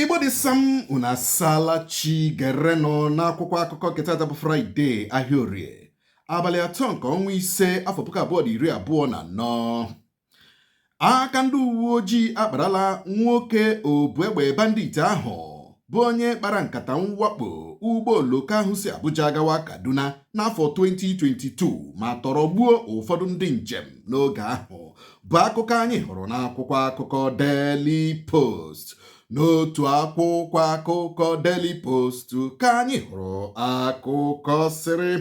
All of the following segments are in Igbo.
igbo dị sam unu asaala chi gerenụ n'akwụkwọ akụkọ nke tata bụ fraịde ahịa orie abalị atọ nke ọnwa ise afọ puku abụọ na iri abụọ na anọ aka ndị uwe ojii akparala nwoke obu egbe bandit ahụ bụ onye kpara nkata mwakpo ụgbọ oloko ahụ si Abuja gawa Kaduna n'afọ 2022 ma tọrọ gbuo ụfọdụ ndị njem n'oge ahụ bụ akụkọ anyị hụrụ n'akwụkwọ akụkọ Daily Post n'otu akwụkwọ akụkọ Daily Post ka anyị hụrụ akụkọ sịrị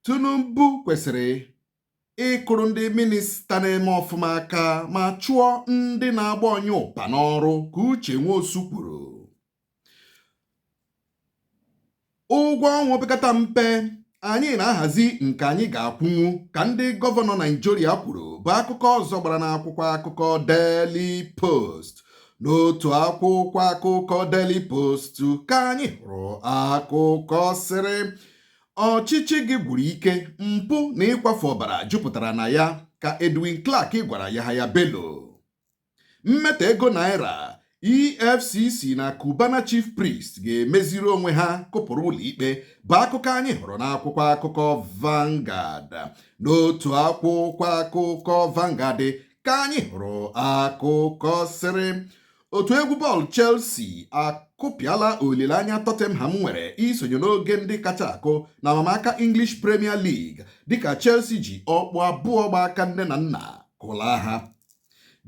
Tinubu kwesịrị ịkụrụ ndị minista na-eme ọfụma aka ma chụọ ndị na-agba ọnyụpa n'ọrụ ka Uche Nwosu kwuru ụgwọ ọnwa opekata mpe anyị na-ahazi nke anyị ga-akwụnwu ka ndị gọvanọ Naijiria kwuru bụ akụkọ ọzọ gbara n'akwụkwọ akụkọ Daily Post n'otu akwụkwọ akụkọ Daily Post ka anyị hụrụ akụkọ sịrị ọchịchị gị gwụrụ ike mpụ na ịkwafu ọbara jupụtara na ya ka Edwin Clark gwara Yahaya Bello mmetọ ego naira efcc na cubana chief priest ga-emeziri onwe ha kụpụrụ ụlọikpe bụ akụkọ anyị hụrụ n'akwụkwọ akụkọ Vanguard n'otu akwụkwọ akụkọ Vanguard ka anyị hụrụ akụkọ sịrị otu egwu bọọlụ Chelsea akụpịala olileanya Tottenham nwere isonye n'oge ndị kacha akụ n'amamaka English Premier League dịka Chelsea ji ọkpụ abụọ gba aka nne na nna kụlaa ha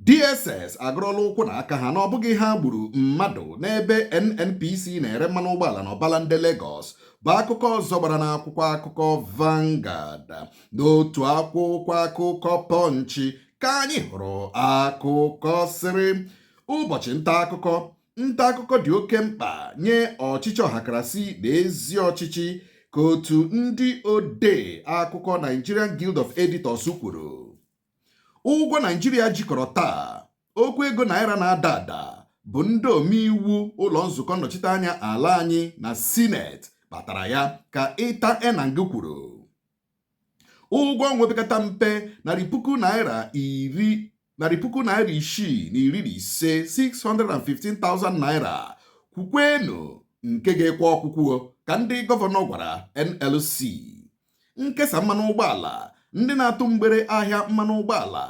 DSS agọrọla ụkwụ na aka ha na ọ bụghị ha gburu mmadụ n'ebe NNPC na-ere mmanụ ụgbọala na Obalende Lagos bụ akụkọ ọzọ gbara n'akwụkwọ akụkọ Vanguard n'otu akwụkwọ akụkọ Punch ka anyị hụrụ akụkọ sịrị ụbọchị nta akụkọ nta akụkọ dị oke mkpa nye ọchịchị ọhakarasị na ezi ọchịchị ka otu ndị odee akụkọ Nigerian Guild of Editors kwuru ụgwọ naijiria ji kọrọ taa okwu ego naira na-ada ada bụ ndị omeiwu ụlọ nzukọ nnọchiteanya ala anyị na sineti kpatara ya ka ịta enang kwuru ụgwọ ọnwa opekata mpe narị puku naira iri narị puku naira isii na iri na ise 615,000 naira kwukwenụ nke ga-ekwe ọkwụkwụ ka ndị gọvanọ gwara NLC nkesa mmanụ ụgbọala ndị na-atụ mgbere ahịa mmanụ ụgbọala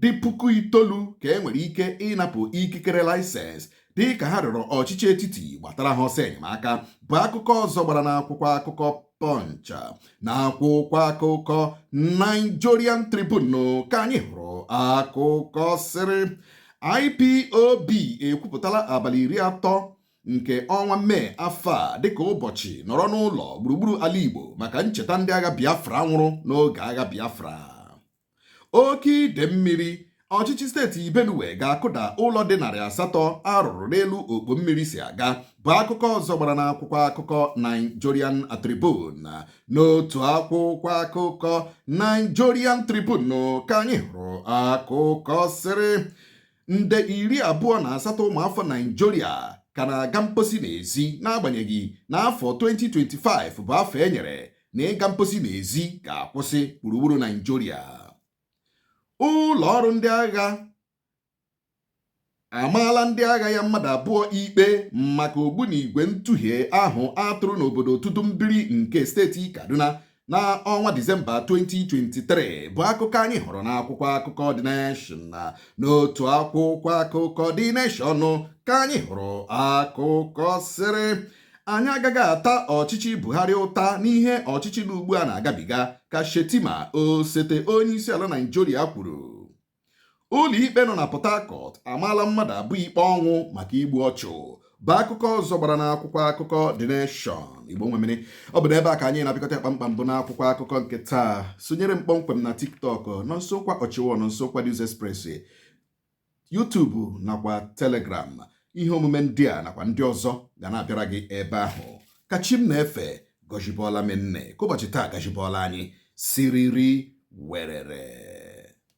dị puku itoolu ka e nwere ike ịnapụ ikikere laịsensị dị ka ha rịọrọ ọchịchị etiti gbatara ha ọsọ enyemaka bụ akụkọ ọzọ gbara n'akwụkwọ akụkọ Punch n'akwụkwọ akụkọ Nigerian Tribune ka anyị hụrụ akụkọ sịrị IPOB ekwupụtala abalị iri atọ nke ọnwa mee afọ a dịka ụbọchị nọrọ n'ụlọ gburugburu ala Igbo maka ncheta ndị agha Biafra nwụrụ n'oge agha Biafra oke ide mmiri ọchịchị steeti Benue ga-akụda ụlọ dị narị asatọ a rụrụ n'elu okpo mmiri si aga bụ akụkọ ọzọ gbara n'akwụkwọ akụkọ Nigerian Tribune n'otu akwụkwọ akụkọ Nigerian Tribune ka anyị hụrụ akụkọ sịrị nde iri abụọ na asatọ ụmụafọ naijiria ka na-aga mposi n'ezi n'agbanyeghị na afọ 2025 bụ afọ e nyere na ịga mposi n'ezi ga-akwụsị gburugburu naijiria ụlọ ọrụ ndị agha amaala ndị agha ya mmadụ abụọ ikpe maka ogbunigwe ntụhie ahụ a tụrụ n'obodo Tudun Biri nke steeti kaduna n'ọnwa disemba 2023 bụ akụkọ anyị hụrụ n'akwụkwọ akụkọ The Nation na n'otu akwụkwọ akụkọ The Nation ka anyị hụrụ akụkọ sịrị anyị agaghị ata ọchịchị Buhari ụta n'ihe ọchịchị nọ ugbu a na-agabiga ka Shettima osote onye isi ala Naijiria kwuru Ụlọikpe nọ na Port Harcourt amaala mmadụ abụọ ikpe ọnwụ maka igbu ọchụ bụ akụkọ ọzọ gbara n'akwụkwọ akụkọ The Nation Igbo nwe m ọ bụ n'ebe a ka anyị na-apịkọta kpamkpam bụ n'akwụkwọ akụkọ nke taa sonyere m kpọmkwem na TikTok Nonsonkwa Official Nonsonkwa News Express YouTube nakwa Telegram ihe omume ndị a nakwa ndị ọzọ ga na-abịara gị ebe ahụ ka chi m na-efe gọjibọọla m unu ka ụbọchị taa gajibọọla anyị siriri werere